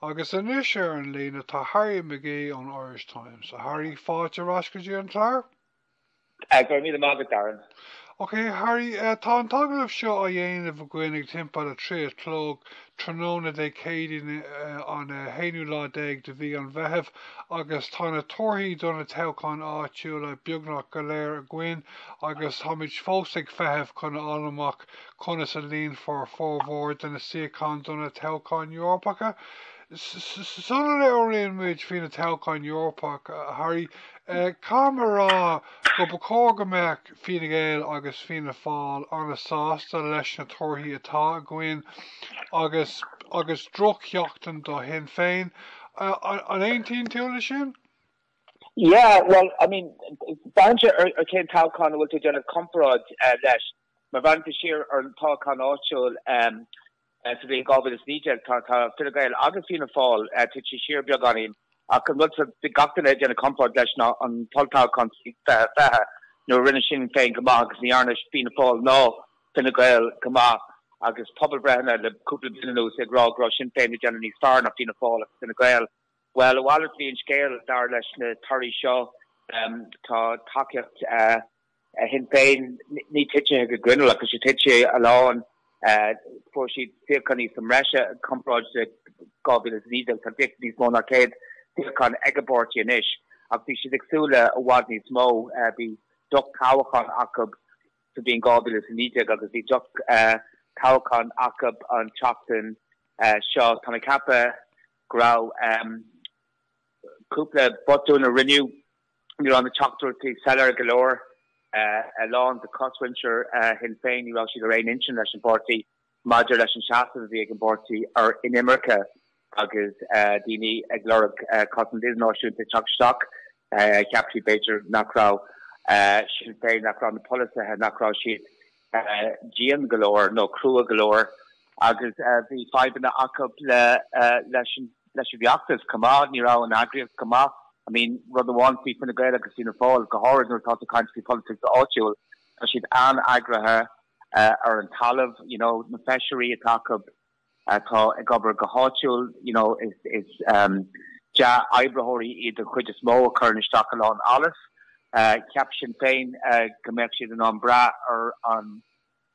Agus anois ar an líne tá Harry McGee ón Irish Times. A Harry, fáilte ar ais go dtí an clár. Go raibh míle maith agat, Darren. Ok, a Harry, tá an t-agallamh seo á dhéanamh againn ag timpeall a trí a chlog tráthnóna Dé Céadaoin an haonú lá déag de mhí an Mheithimh agus tá na torthaí do na toghcháin áitiúla beagnach go léir againn agus táimid fós ag feitheamh chun a fháil amach Conas a líonfar formhór de na suíocháin do na toghcháin Eorpacha? Sula labhraíonn muid faoi na toghcháin Eorpacha, a Harry, caithfidh mé a rá go ba chóir go mbeadh Fine Gael agus Fianna Fáil an-sásta leis na torthaí atá againn agus agus drochsheachtain do Shinn Féin. An aontaíonn tú leis sin? Yeah, well, I mean, braitheann sé ar cén toghchán a bhfuil tú ag déanamh comparáid leis. Má bhreathnaíonn tú siar ar an toghchán áitiúil sa bhliain 2019, tá Fine Gael agus Fianna Fáil tite siar beagáinín, ach an rud a bhí gach duine ag déanamh comparáid leis ná an t-olltoghchán sa bhliain 2020, nuair a rinne Sinn Féin go maith agus ní dhearna Fianna Fáil ná Fine Gael go maith. Agus pobalbhreitheanna le cúpla bliain anuas ag rá go raibh Sinn Féin ag déanamh níos fearr ná Fianna Fáil agus Fine Gael, bhuel, a mhalairt a bhí an scéal, dar leis na torthaí seo. Tá tacaíocht. Shinn Féin, ní tite go grinneall ach tá sé tite a lán. Fuair siad suíocháin sa mbreise i gcomparáid le 2019. Tá beagán níos mó ná 100 suíochán ag an bpáirtí anois ach bhí siad ag súil le i bhfad níos mó. Bhí drochthoghchán acu sa bhliain 2019 agus bhí drochthoghchán acu an tseachtain seo. Tá mé ag ceapadh go raibh cúpla botún a rinneadh. Ní raibh na teachtaireachtaí soiléir go leor. A lán de chosmhuintir Shinn Féin, ní raibh siad ar aon intinn leis an bpáirtí maidir leis an seasamh a bhí ag an bpáirtí ar inimirce agus daoine ag lorg cosaint idirnáisiúnta ag teacht isteach. Cheap siad, b'fhéidir, nach raibh Sinn Féin, nach raibh na polasaithe, nach raibh siad dian go leor nó crua go leor agus bhí fadhbanna acu leis an bhfeachtas chomh maith, ní raibh an eagraíocht go maith. I mean, rud amháin faoi Fine Gael agus Fianna Fáil, go háirid nuair atá tú ag caint faoi pholaitíocht áitiúil, tá siad an-eagraithe ar an talamh, you know, na feisirí atá acu, atá ag obair go háitiúil, you know is is ehm dea-oibritheoirí iad den chuid is mó a chuireann isteach a lán allas. Cheap Sinn Féin go mbeadh siad in ann brath ar an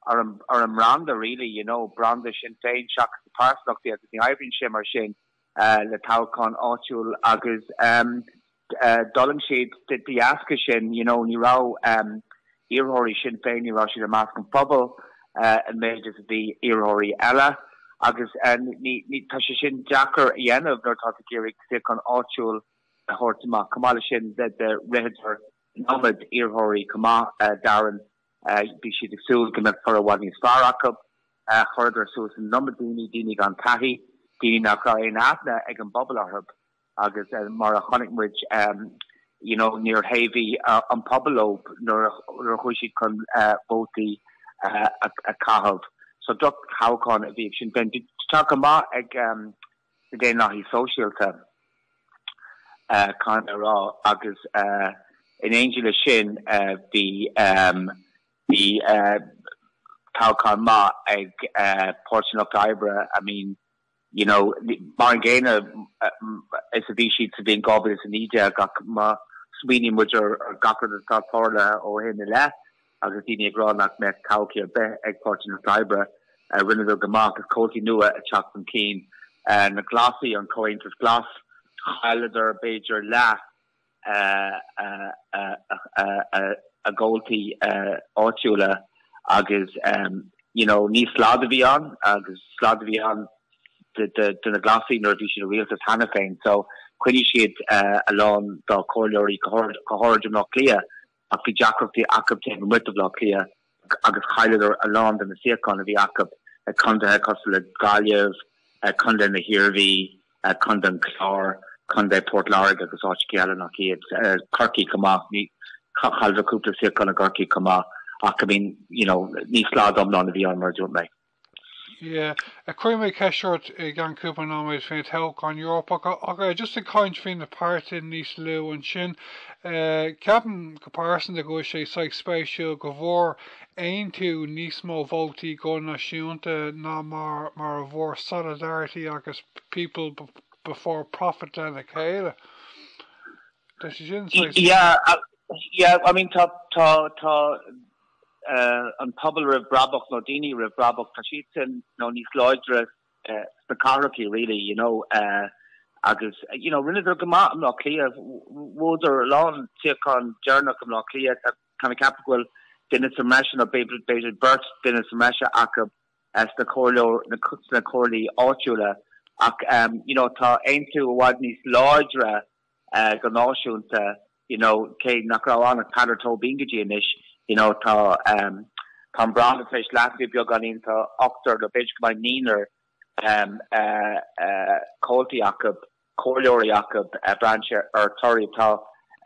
ar an ar an mbranda really you know branda Sinn Féin seachas na pearsantachtaí agus ní oibríonn sé mar sin le toghchán áitiúil agus ehm D'fhulaing siad de dheasca sin, you know, ní raibh iarrthóirí Sinn Féin, ní raibh siad i measc an phobail an méid is a bhí iarrthóirí eile agus ní, tá sé sin deacair a dhéanamh nuair atá tú ag iarraidh suíochán áitiúil a thabhairt amach. Chomh maith leis sin ritheadar an iomad iarrthóirí chomh maith dar liom, bhí siad ag súil go mbeadh toradh i bhfad níos fearr acu. Chuireadar suas an iomad daoine, daoine gan taithí, daoine nach raibh aon aithne ag an bpobal orthu. Agus mar a chonaic muid, you know, níor thaobhaigh an pobal leo nuair a chuaigh siad chun vótaí a chaitheamh. So drochthoghchán a bhí ag Sinn Féin. Bhí toghchán maith ag na Daonlathaigh Sóisialta, caithfidh mé a rá, agus in éindí le sin bhí bhí toghchán maith ag Páirtí an Lucht Oibre, I mean, you know, mar an gcéanna is a bhí siad sa bhliain 2019 ach má smaoiníonn muid ar gach rud atá tarlaithe ó shin i leith agus daoine ag rá nach mbeadh todhchaí ar bith ag Páirtí an Lucht Oibre, rinneadar go maith agus comhaltaí nua ag teacht chun cinn. Na Glasaigh, an Comhaontas Glas, chailleadar b'fhéidir leath. a gcomhaltaí áitiúla agus you know níor slad a bhí ann agus slad a bhí ann do na Glasaigh nuair a bhí siad i rialtas cheana féin so choinnigh siad a lán dá comhairleoirí go háirid i mBleá Cliath. Ach bhí deacrachtaí acu taobh amuigh de Bhleá Cliath agus chailleadar a lán de na suíocháin a bhí acu i condaetha cosúil le Gaillimh, Condae na hIarmhí, Condae an Chláir, Condae Phort Láirge agus áiteachaí eile nach iad. Corcaigh chomh maith, chailleadar cúpla suíochán i gCorcaigh chomh maith ach I mean, you know, ní slad iomlán a bhí ann mar a dúirt mé. Yeah. Cuirfidh mé ceist ort i gceann cúpla nóiméad faoi na toghcháin Eorpacha ach just ag caint faoi na páirtithe níos lú ansin, ceapaim go pearsanta go bhfuil sé saghas spéisiúil go bhfuair Aontú níos mó vótaí go náisiúnta ná mar mar a bhfuair Solidarity agus People Before Profit le chéile. Tá sé sin saghas Yeah, yeah, I mean tá, tá, tá, an pobal roimh bhrabach nó daoine roimh bhrabach, tá siad sin nó níos láidre sna cathracha really, you know, agus, you know, rinneadar go maith i mBleá Cliath, bhuadar a lán suíochán deireanach i mBleá Cliath, táim ag ceapadh go bhfuil duine sa mbreis nó b'fhéidir beirt duine sa mbreis acu sna comhairleoir, sna comhairlí áitiúla ach, you know, tá Aontú i bhfad níos láidre go náisiúnta. you know, cé nach raibh ann ach Peadar Tóibín go dtí anois, you know, tá, ehm, tá an branda tar éis leasaithe beagáinín, tá, ochtar, nó b'fhéidir go mbeidh naonúr, ehm, eh, eh, comhaltaí acu, comhairleoirí acu, eh, braith ar torthaí atá,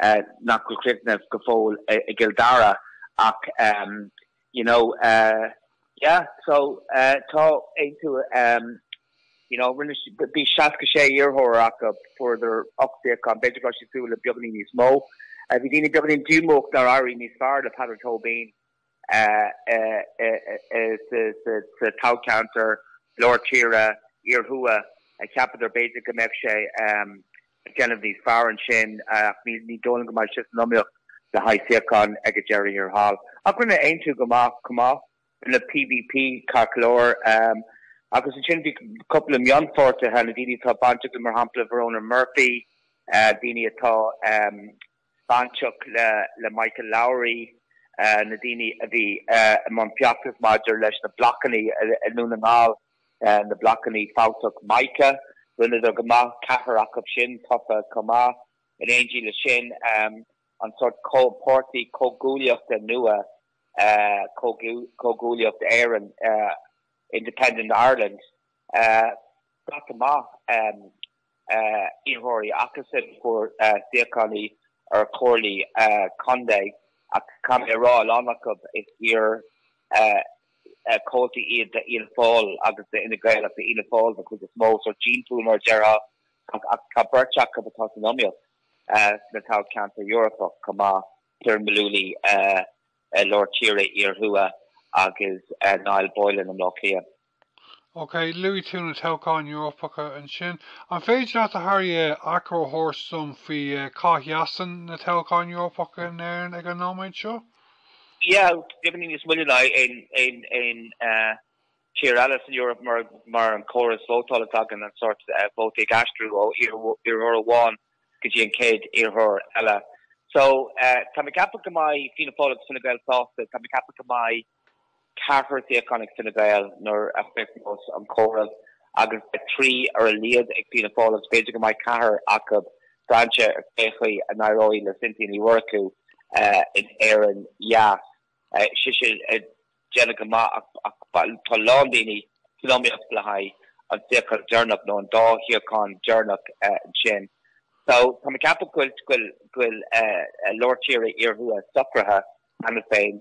eh, nach bhfuil críochnaithe go fóill i gCill Dara, ach, ehm, You know, yeah, so tá Aontú, you know, rinne siad, bhí 66 iarrthóir acu, fuaireadar ocht suíochán, b'fhéidir go raibh siad ag súil le beagáinín níos mó. Bhí daoine beagáinín díomách nár éirigh níos fearr le Peadar Tóibín sa toghcheantar, Lár Tíre, Iarthuaidh, cheapadar b'fhéidir go mbeadh sé ag déanamh níos fearr ansin ach ní dóigh liom go mbeidh sé san iomaíocht le haghaidh suíochán ag an deireadh thiar thall. Ach rinne Aontú go maith chomh maith, rinne PBP ceart go leor agus ansin bhí cúpla mionpháirtithe, na daoine atá bainteach le mar shampla Verona Murphy, daoine atá. bainteach le Michael Lowry na daoine a bhí i mbun feachtais maidir leis na blocanna i nDún na nGall, na blocanna fabhtacha Mica. Rinneadar go maith, ceathrar acu sin tofa chomh maith. In éindí leis sin, an sórt comhpháirtí comhghuaillíochta nua, Comhghuaillíocht Éireann, Independent Ireland, scata maith. iarrthóirí acusan a fuair suíocháin ar chomhairlí contae ach caithfidh mé a rá, a lán acu, is iar-chomhaltaí iad de Fhianna Fáil agus d'Fhine Gael ach d'Fhianna Fáil den chuid is mó, sórt gene pool mar a déarfá. Ach tá beirt acu atá san iomaíocht sna toghcheantair Eorpacha chomh maith, Ciaran Mullooly, Lár Tíre, Iarthuaidh, agus Niall Boylan i mBleá Cliath. OK, luaigh tú na toghcháin Eorpacha ansin. An féidir leat, a Harry, achoimre a thabhairt dom faoi cá seasann na toghcháin Eorpacha in Éirinn ag an nóiméad seo? Yeah, definitely níos moille ná aon tír eile san Eoraip mar an córas vótála atá againn, an sórt vótaí ag aistriú ó iarrthóir amháin go dtí an chéad iarrthóir eile. So tá mé ceaptha go mbeidh Fianna Fáil agus Fine Gael sásta, tá mé ceaptha go mbeidh Ceathrar suíochán ag Fine Gael nuair a chríochnós an comhaireamh agus beidh trí ar a laghad ag Fianna Fáil agus b'fhéidir go mbeidh ceathrar acu, braith ar cé chaoi a n-éireoidh le Cynthia Ní Mhurchú in Éirinn Theas. Tá sise ag déanamh go maith ach tá a lán daoine san iomaíocht le haghaidh an suíochán deireanach nó an dá shuíochán deireanach ansin. Tá mé ag ceapadh go bhfuil Lár Tíre-Iarthuaidh socraithe cheana féin.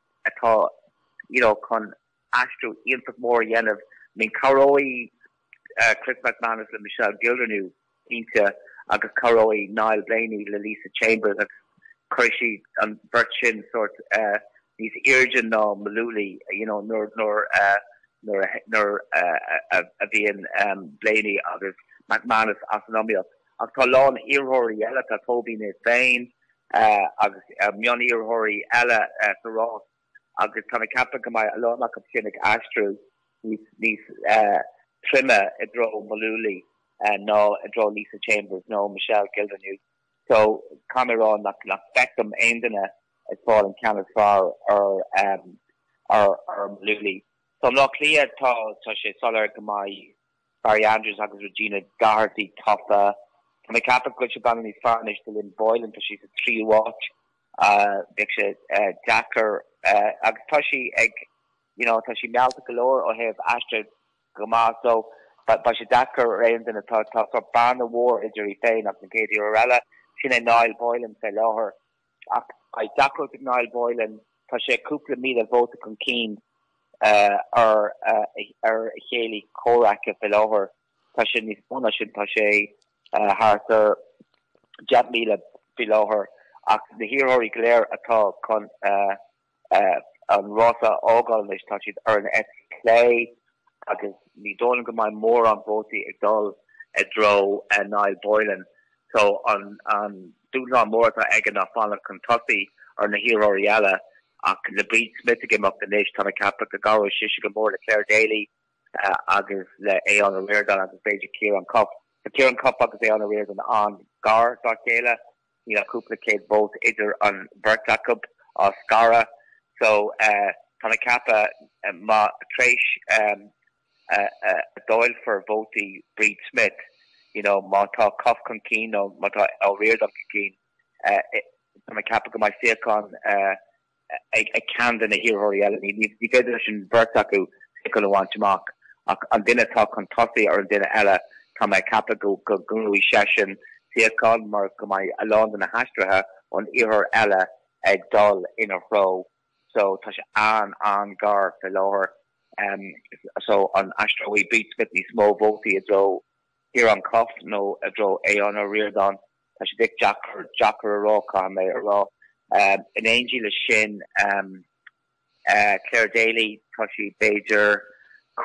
atá you know chun aistriú iontach mór a dhéanamh. I mean cabhróidh Chris McManus le Michelle Gildernew cinnte agus cabhróidh Niall Blaney le Lisa Chambers agus cuirfidh siad an bheirt sin sort níos airde ná Mullooly you know nuair nuair nuair a nuair a bhíonn Blaney agus McManus as an iomaíocht. Ach tá a lán iarrthóirí eile, tá Tóibín é féin, agus mion-iarrthóirí eile sa rás agus tá mé ag ceapadh go mbeidh a lán acu sin ag aistriú níos troime i dtreo Mullooly ná i dtreo Lisa Chambers nó Michelle Gildernew so caithfidh mé a rá nach bhfeicim aon duine ag fáil an ceann is fearr ar Mullooly. So i mBaile Átha Cliath tá sé soiléir go mbeidh Barry Andrews agus Regina Doherty tofa. Tá mé ag ceapadh go bhfuil sé beagán níos fearr anois do Lynn Boylan, tá sí sa tríú háit. Bheadh sé deacair agus tá sí ag, you know, tá sí mealltach go leor ó thaobh aistrithe go maith so beidh sé deacair ar aon duine, tá sort bearna mhór idir í féin agus an chéad iarrthóir eile, sin é Niall Boylan fé láthair. Ach beidh deacracht ag Niall Boylan, tá sé cúpla míle vóta chun cinn ar a chéilí comhraic faoi láthair, tá sé níos mó ná sin, tá sé thart ar 10,000 faoi láthair, ach na hiarrthóirí go léir atá chun an rás a fhágáil anois, tá siad ar an eite chlé agus ní dóigh liom go mbeidh mórán vótaí ag dul i dtreo Niall Boylan so an dúshlán mór atá aige ná fanacht chun tosaigh ar na hiarrthóirí eile. Ach le Bríd Smith ag imeacht anois, tá mé ag ceapadh go gcabhróidh sise go mór le Clare Daly agus le Aodhán Ó Ríordáin agus b'fhéidir Ciarán Cuffe. Tá Ciarán Cuffe agus Aodhán Ó Ríordáin an-ghar dá chéile Níl ach cúpla céad vóta idir an bheirt acu á scaradh so tá mé ag ceapadh má t'réis a dáilfear vótaí Bríd Smith, you know, má tá Cuffe chun cinn nó má tá Ó Ríordáin chun cinn, tá mé ag ceapadh go mbeidh suíochán ag ceann de na hiarrthóirí eile. Ní féidir leis an bheirt acu suíochán a bhaint amach ach an duine atá chun tosaigh ar an duine eile. Tá mé ag ceapadh go ngnóthóidh seisean suíochán mar go mbeidh a lán de na haistrithe ón iarrthóir eile ag dul ina threo so tá sé an-an-ghar fé láthair so an aistreoidh Bríd Smith níos mó vótaí i dtreo Ciarán Cuffe nó i dtreo Aodhán Ó Ríordáin? Tá sé deacair, deacair a rá, caithfidh mé a rá. In éindí le sin, Clare Daly, tá sí b'fhéidir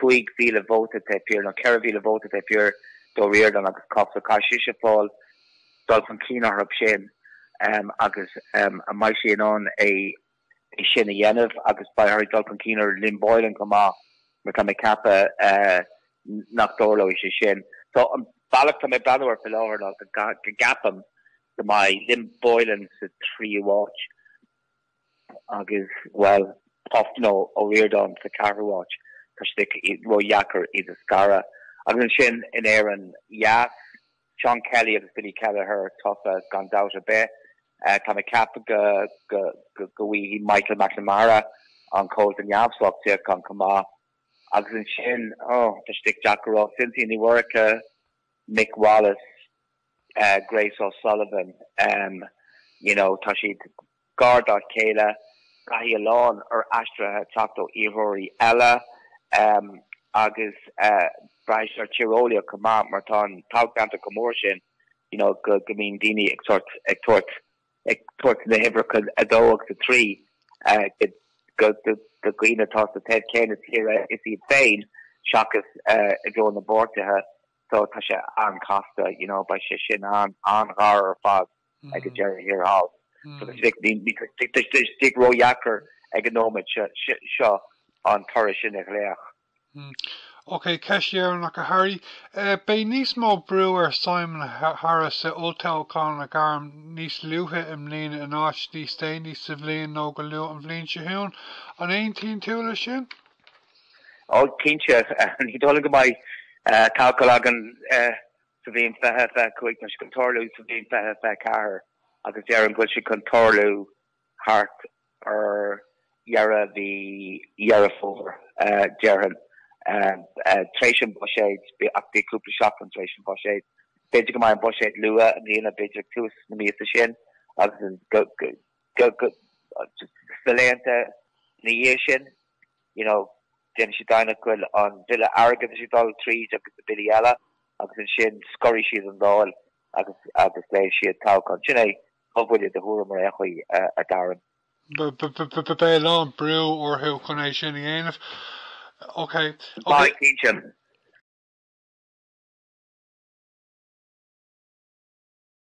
5,000 vóta taobh thiar, nó 4,000 vóta taobh thiar d'Ó Ríordáin agus Cuffe, so caithfidh sise fáil dul chun cinn orthu sin agus an mbeidh sí in ann é é sin a dhéanamh agus beidh sé tar éis dul chun cinn ar Lynn Boylan chomh maith mar tá mé ag ceapadh nach dtarlóidh sé sin. So an bealach atá mé ag breathnú air faoi láthair ná go gceapaim go mbeidh Lynn Boylan sa tríú áit agus b'fhéidir Aodhán Ó Ríordáin sa ceathrú áit. Tá sé díreach ródheacair iad a scaradh. Agus ansin in Éirinn Dheas, Seán Kelly agus Billy Kelleher tofa gan dabht ar bith. Tá mé ag ceapadh go bhfaighidh Michael McNamara, an Comhalta Neamhspleách, suíochán chomh maith. Agus ansin, oh, tá sé díreach deacair a rá Cynthia Ní Mhurchú, Mick Wallace, Grace O'Sullivan, you know, tá siad. Gar dá chéile, caithfidh a lán aistrithe teacht ó iarrthóirí eile agus beidh sé tíreolaíoch chomh maith mar tá an toghcheantar chomh mór sin go mbíonn daoine ag tabhairt na huimhreacha 2 agus 3 do dhaoine atá sa taobh céanna tíre is iad féin seachas i dtreo na bpáirtithe so tá sé an-chasta, you know, beidh sé sin an-ghar ar fad. ag an deireadh thiar thall. Tá sé díreach ródheacair ag an nóiméad seo an toradh sin a ghlaoch. Ok, ceist dheireanach, a Harry. Beidh níos mó brú ar Simon Harris olltoghchán a ghairm níos luaithe i mbliana in áit níos déanaí sa bhliain nó go luath an bhliain seo chugainn. An aontaíonn tú leis sin? Ó, cinnte. Ní dóigh liom go mbeidh toghchán againn sa bhliain 2025, tá sé chun tarlú sa bhliain 2024 agus déarfainn go bhfuil sé chun tarlú thart ar dheireadh mhí Dheireadh Fómhair, déarfainn, tar éis an Bhuiséid, ach b'fhéidir cúpla seachtain tar éis an Bhuiséid. B'fhéidir go mbeidh an Buiséad luath i mbliana, b'fhéidir tús na míosa sin agus sna laethanta ina dhiaidh sin, you know. Déanfaidh siad deimhin de go bhfuil an bille airgeadais ag dul tríd agus na billí eile agus ansin scoirfidh siad an Dáil agus glaofaidh siad toghchán. Sin é mo bhuille faoi thuairim ar aon chaoi, a Darren. Beidh a lán brú orthu chun é sin a dhéanamh. Ok, ok. Ba é cinnte.